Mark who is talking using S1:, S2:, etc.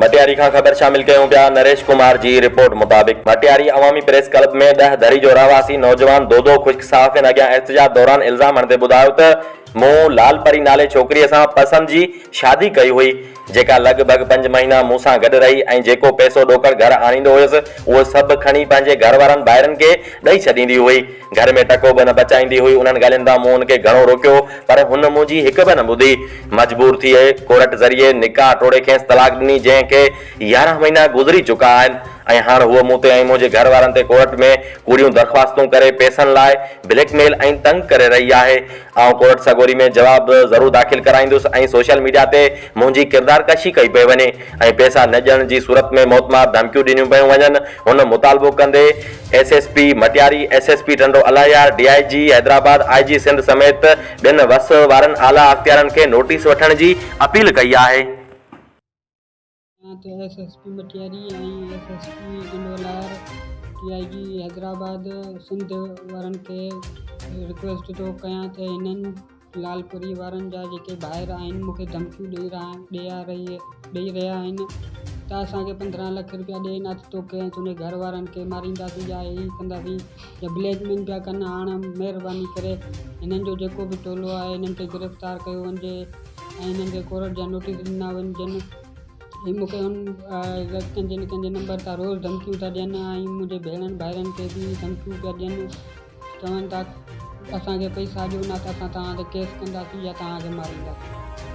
S1: مٽياري کان خبر شامل ڪيون پيا، نريش ڪمار جي رپورٽ مطابق مٽياري عوامي پريس ڪلب ۾ ڏهه دري جو رهواسي نوجوان دودو خشڪ صحافين اڳيان احتجاج دوران الزام هڻندي ٻڌايو ته مون لال پري نالي ڇوڪريء سان پسند جي شادي ڪئي هئي جيڪا لڳ ڀڳ پنج مهينا مون سان گڏ رهي ۽ جيڪو پئسو ڏوڪڙ گهر آڻيندو هيس اهو سڀ کڻي پنهنجي گهر وارن ڀائرن کي ڏئي ڇڏيندي هئي. گهر ۾ ٽڪو به نه پچائيندي هئي. انهن ڳالهين تان مون ان کي گهڻو روڪيو، پر هن منهنجي هڪ به نه ٻڌي. مجبور ٿي ڪورٽ ذريعي نڪاح ٽوڙي کيس طلاق ڏني، جنهن کي يارهن مهينا گذري چڪا آهن ۽ هاڻ هوء مون تي ۽ منهنجي گهر وارن تي ڪورٽ ۾ ڪوڙيون درخواستون ڪري پئسن لاء بليڪ ميل ۽ تنگ ڪري رهي آهي. آئون ڪورٽ سڳوري ۾ جواب ضرور داخل ڪرائيندس ۽ سوشل ميڊيا تي منهنجي ڪردار ڪشي ڪئي پئي وڃي ۽ پئسا نه ڏيڻ جي صورت ۾ موتمار ڌمڪيون ڏنيون پيون وڃن. هن مطالبو ڪندي S S P Matiari, S S P Tando Allahyar, D I G Hyderabad, I G Sindh سميت ٻين وس وارن اعليٰ اختيارن کي نوٽيس وٺڻ جي اپيل ڪئي آهي. جيئن
S2: ته S S P Matiari ۽ S S P Tando Allahyar D I G Hyderabad Sindh وارن کي رڪويسٽ ٿو ڪيان ته هنن لالپوري وارن جا جيڪي ڀائر آهن مونکي ڌمڪيون ڏئي رهيا آهن ڏيا رهي ڏئي رهيا آهن ته اسان کي پندرهن لک روپيا ڏي نه ته توکي ۽ تنهنجي گهر وارن کي مارينداسين يا هي ڪنداسين يا بليڪ مين پيا ڪن هاڻ مهرباني ڪري هنن جو جيڪو به ٽولو آهي هنن کي گرفتار ڪيو وڃجي ۽ هنن کي ڪورٽ جا نوٽيس ڏنا وڃجن هي مونکي هن ڪنهنجي نه ڪنهنجي نمبر تان روز ڌمڪيون ٿا ڏين ۽ منهنجي ڀيڻن ڀائرن کي به ڌمڪيون پيا ڏين چون ٿا ته اسان کي پئي ساڄيو نه ته اسان توهان تي ڪيس ڪنداسين يا توهان کي مارينداسين.